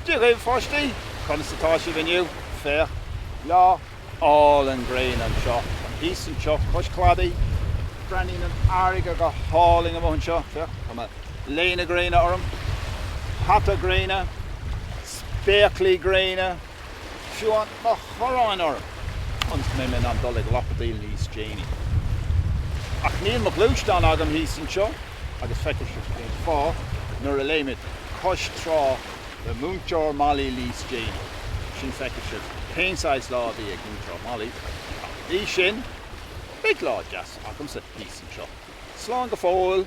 Dia dhaoibh pháistí! Conas atá sibh inniu? Féach, lá álainn gréine anseo. Táim thíos anseo cois cladaigh. Breathnaíonn an fharraige go hálainn amuigh anseo. Féach, tá mo léine gréine orm, hata gréine, spéaclaí gréine. Is tá mo chuaráin orm ionas go mbeidh mé in ann dul ag lapadaíl níos déanaí. Ach níl mo ghluaisteán agam thíos anseo agus feicfidh sibh cén fáth nuair a léimid cois trá le Múinteoir Molly níos déanaí. Ansin feicfidh sibh cén saghas lá a bhí ag Múinteoir Molly. Ach go dtí sin, beidh lá deas agamsa thíos anseo. Slán go fóill!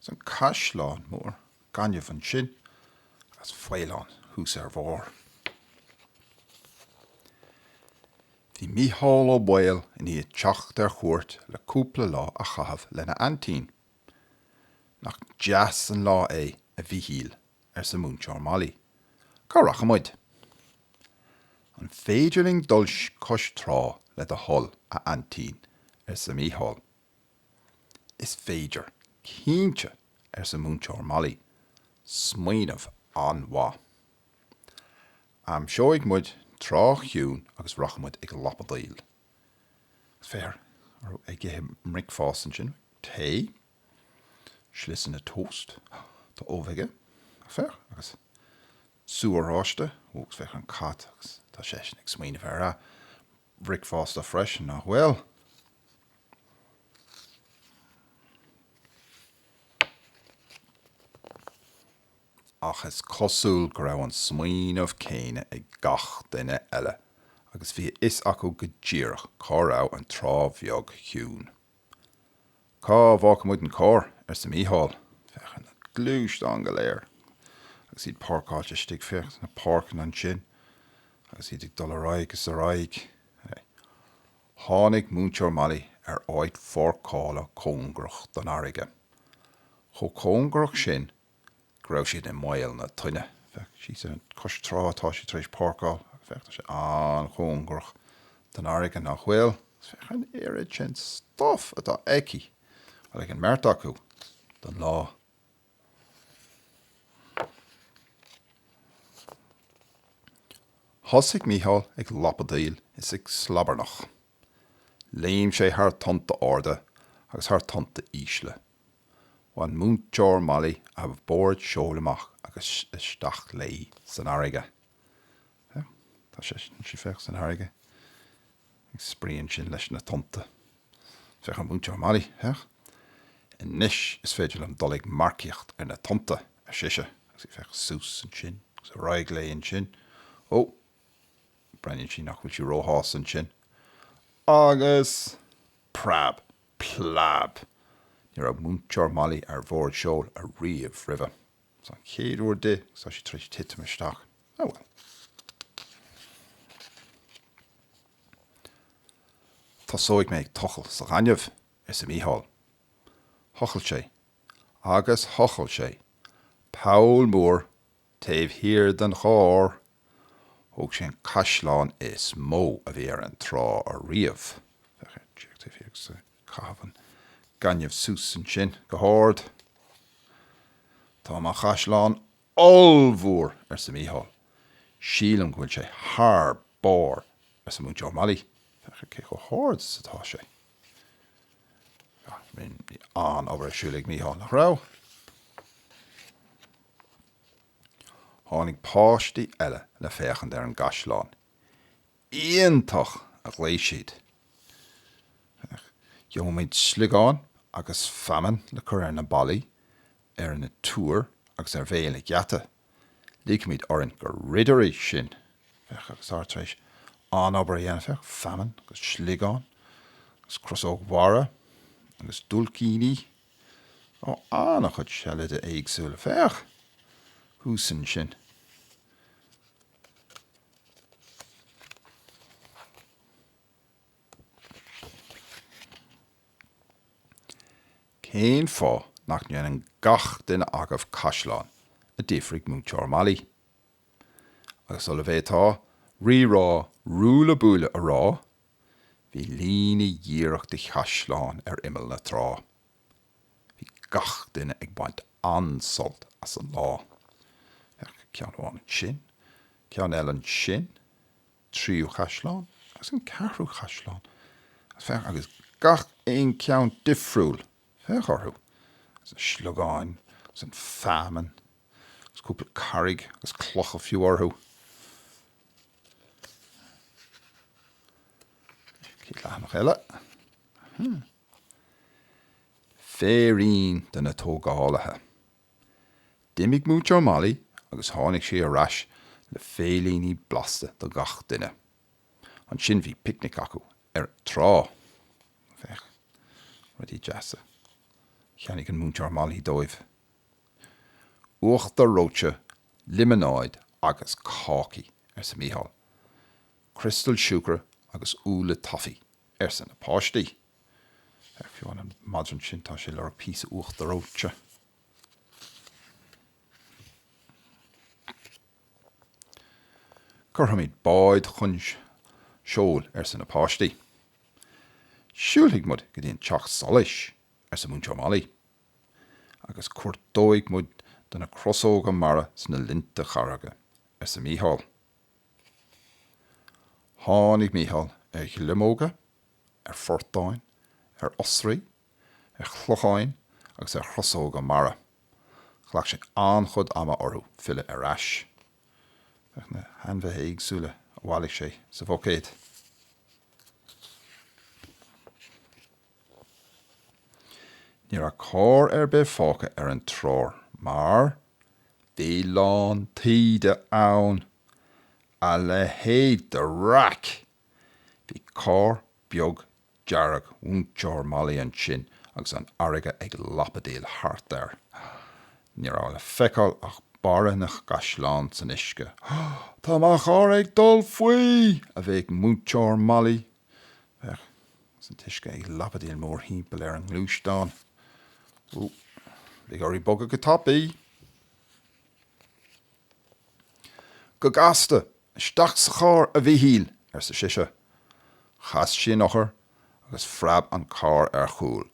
'S an caisleán mór gainimh ansin agus faoileán thuas ar a bharr. Bhí Mícheál Ó Baoill i ndiaidh teacht ar chuairt le cúpla lá a chaitheamh lena aintín. 'Nach deas an lá é, a Mhíchíl, arsa Múinteoir Molly. 'Cá rachaidh muid? 'An féidir linn dul cois trá, le do thoil, a aintín? arsa Mícheál. Is féidir, cinnte, arsa Múinteoir Molly. Smaoineamh an-mhaith. Aimseoidh muid trá chiúin agus rachaidh muid ag lapadaíl. Is féach orthu ag ithe a mbricfeasta ansin? Tae? Sliosanna tósta? Tá ubh aige. Féach. Agus sú oráiste. Ó, is féach ar an cat agus tá seisean ag smaoineamh ar a bhricfeasta freisin, nach bhfuil? Ach is cosúil go raibh an smaoineamh céanna ag gach duine eile agus bhí a fhios acu go díreach cá raibh an Trá Bheag Chiúin. Cá bhfágfaidh muid an carr? arsa Mícheál. Féach ar na gluaisteáin go léir agus iad páirceáilte istigh. Féach na páirceanna ansin agus iad ag dul ar aghaidh is ar aghaidh. Tháinig Múinteoir Molly ar áit pháirceála cóngarach don fharraige. Chomh cóngarach sin go raibh siad i mbaol na toinne. Féach síos ar an cois trá atá sí tar éis páirceáil agus féach, tá sé an-chóngarach don fharraige, nach bhfuil? Agus féach an oiread sin stuif atá aici, bhuel, ag an mbeirt acu, don lá. Thosaigh Mícheál ag lapadaíl is ag slabarnach. Léim sé thar tonnta arda agus thar tonnta ísle. Bhain Múinteoir Molly a bord seoil amach agus isteach léi san fharraige. Féach, tá sé, sí san fharraige. Ag spraoi ansin leis na tonnta. Féach, a Mhúinteoir Molly, féach. Anois is féidir liom dul ag marcaíocht ar na tonnta, ar sise, agus í ag féachaint thuas ansin agus ar aghaidh léi ansin. Ó! Breathnaíonn sé nach bhfuil sí róshásta ansin. Agus preab! Plab! Ní raibh Múinteoir Molly ar bhord seoil ariamh roimhe. Seo an chéad uair di agus tá sí tar éis titim isteach. Oh well. Tosóidh mé ag tochailt sa ghaineamh, arsa Mícheál. Thochail sé, agus thochail sé, poll mór Taobh thiar den charr. Thóg sé an caisleán is mó a bhí ar an trá ariamh. Féach ar J, taobh thiar ag caitheamh an gaineamh suas ansin go hard. Tá mo chaisleán ollmhór! arsa Micheál. Sílim go bhfuil sé thar barr! arsa Múinteoir Molly. Féach ar cé chomh hard is atá sé. Bhí an-obair ar siúl ag Micheál, nach raibh? Tháinig páistí eile le féachaint ar an gcaisleán. Iontach! a ghlaoigh siad. Gheobhaimid sliogáin agus feamainn le cur ar na ballaí, ar na túir agus ar bhéal an gheata. Ligfimid orainn gur ridirí sinn! Féach, agus iad tar éis an-obair a dhéanamh, féach, feamainn agus sliogáin agus crosóg mhara agus diúilicíní, Ó, an-chuid seilidí éagsúla. Féach thuas ansin. Cén fáth nach ndéanann gach duine agaibh caisleán? a d'fhiafraigh Múinteoir Molly. Agus sula bhféadfá rírá ruaille buaille a rá, Bhí líne dhíreach de chaisleáin ar imeall na trá. Bhí gach duine ag baint an-sult as an lá. Féach, ceann amháin ansin, ceann eile ansin, tríú chaisleán agus an ceathrú chaisleán. Agus féach, agus gach aon cheann difriúil! Féach orthu, agus na sliogáin agus an feamainn agus cúpla carraig agus clocha fiú orthu. Céad leathanach eile? Hmm. Féirín do na tógálaithe. D'imigh Múinteoir Molly agus tháinig sí ar ais le féiríní blasta do gach duine. Ansin bhí picnic acu ar an trá. Féach, rudaí deasa a cheannaigh an Múinteoir Molly dóibh. Uachtar reoite, liomanáid agus cácaí, arsa Micheál. Criostail siúcra agus úlla toffee, arsa na páistí. Féach ar an madra ansin, tá sé ag lorg píosa uachtar reoite. Cuirfimid báid chun seoil, arsa na páistí. Siúlfaidh muid go dtí an teach solais, arsa Múinteoir Molly. agus cuartóidh muidinne crosóga mara sna linnte carraige, arsa Mícheál. Tháinig Mícheál ar ghliomóga, ar phortáin, ar oisrí, ar shliogáin agus ar chrosóga mara. Ghlac sé an-chuid ama orthu filleadh ar ais. Féach na hainmhithe éagsúla a bhailigh sé sa bhuicéad. Ní raibh carr ar bith fágtha ar an trá mar bhí lán taoide ann. A leithéid de raic! Bhí carr beag dearg Mhúinteoir Molly ansin agus an fharraige ag lapadaíl thart air. Ní raibh le feiceáil ach barra na gcaisleán san uisce. Tá mo charr ag dul faoi! a bhéic Múinteoir Molly. Féach ansin an t-uisce ag lapadaíl mórthimpeall ar an ngluaisteán. Ó, beidh uirthi bogadh go tapaidh! Go gasta, Isteach sa charr, a Mhíchíl! arsa sise. Chas sí an eochair agus phreab an carr ar chúl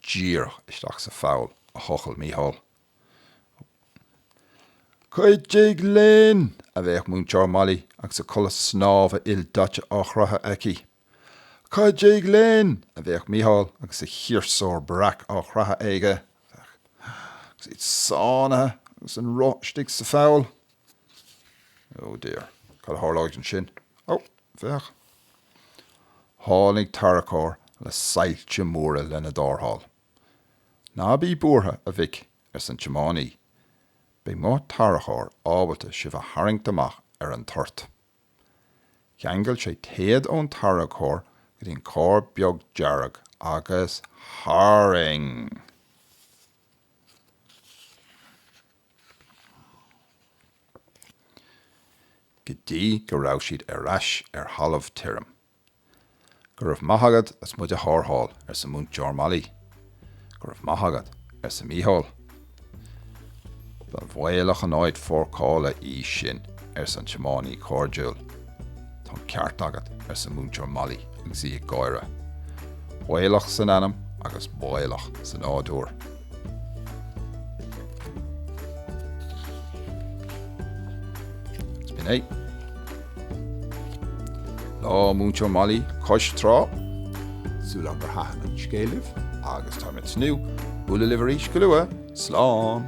díreach isteach sa pholl a thochail Mícheál. Cuidigh linn! a bhéic Múinteoir Molly agus a culaith snámha ildaite á chroitheadh aici. Cuidigh linn! a bhéic Micheál agus a chiarsúr breac á chroitheadh aige, agus iad sáinnithe agus an roth istigh sa pholl. Oh dear, cad a tharlóidh ansin? Ó, féach! Tháinig tarracóir le soilse móra lena dtarrtháil. Ná bí buartha, a mhic, arsa an tiománaí. Beidh mo tarracóir ábalta sibh a tharraingt amach ar an toirt. Cheangail sé téad ón tarracóir go dtí an carr beag dearg agus tharraing! go dtí go raibh siad ar ais ar thalamh tirim. Go raibh maith agat as muid a tharrtháil, arsa Múinteoir Molly. Go raibh maith agat, arsa Mícheál. Ba bhaolach an áit pháirceála í sin, arsa an tiománaí cairdiúil. Tá an ceart agat, arsa Múinteoir Molly agus í ag gáire. Baolach san ainm agus baolach sa nádúr. B'in é. Lá Múinteoir Molly cois trá. Súil agam gur thaitin an scéal libh agus tá mé ag tnúth bualadh libh arís go luath. Slán!